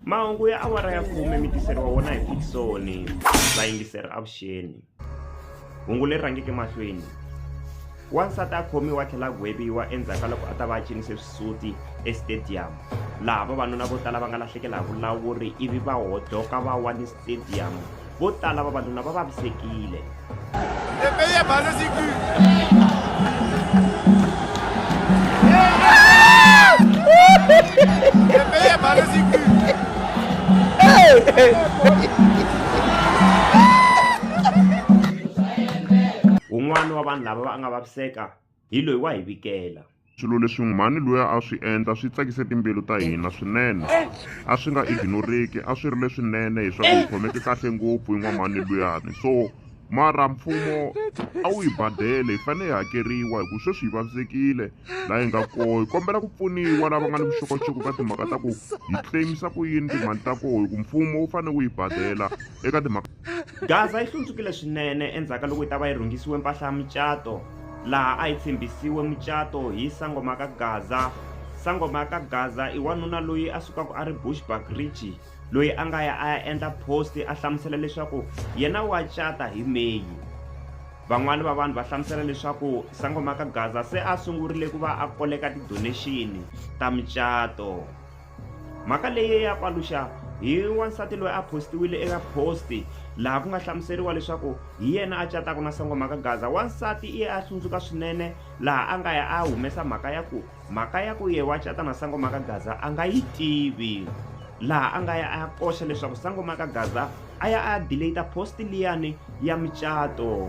mahungu ya awara ya khume mi tiseriwa wona hi fikisoni vayingiseri avuxeni hungu leri rhangeke mahlweni wansati a khomiwa tlhela gweviwa endzhaku ka loko a ta va a cinise swisuti estadium laha vavanuna vo tala va nga lahlekela hi vulawuri ivi va hodloka va wa ni stadium vo tala vavanuna va vavisekile un'wana wa vanhu lava va nga vaviseka hi loyi wa hi vikela Swilo leswi mhani luya a swi endla swi tsakise timbilu ta hina swinene. A swi nga ignoreki, a swi ri leswinene hi swa ku hi khomeke kahle ngopfu hi n'wamhani luyani. So mara mfumo a wu hi badele hi fanele hi hakeriwa hi ku sweswi hi vavisekile laha hi nga koho hi kombela ku pfuniwa lava nga ni vuxokoxoko ka timhaka ta ku hi claimisa ku yini timali ta koho hi ku mfumo wu fanele wu yi badela eka timhaka Gaza yi hlundzukile swinene endzhaku ka loko yi ta va yi rhungisiwe mpahla ya mucato. laha a yi tshembisiwe mucato hi sangoma ka gaza sangoma ka gaza i wanuna loyi a sukaka a ri bushback ridge loyi a nga ya a ya endla post a hlamusela leswaku yena wa cata hi meyi van'wani va vanhu va hlamusela leswaku sangoma ka gaza se a sungurile ku va a koleka ti-donation ta mucato Mhaka leyi ya paluxa hi wansati loyi a postiwile eka posti laha ku nga hlamuseriwa leswaku hi yena a cataka na sangomhaka gaza wansati i ye a hlundzuka swinene laha a nga ya a humesa mhaka ya ku mhaka ya ku ye wa cata na sangomhaka gaza a nga yi tivi laha a nga ya a ya koxa leswaku sangomhaka gaza a ya a ya delata posti liyani ya micato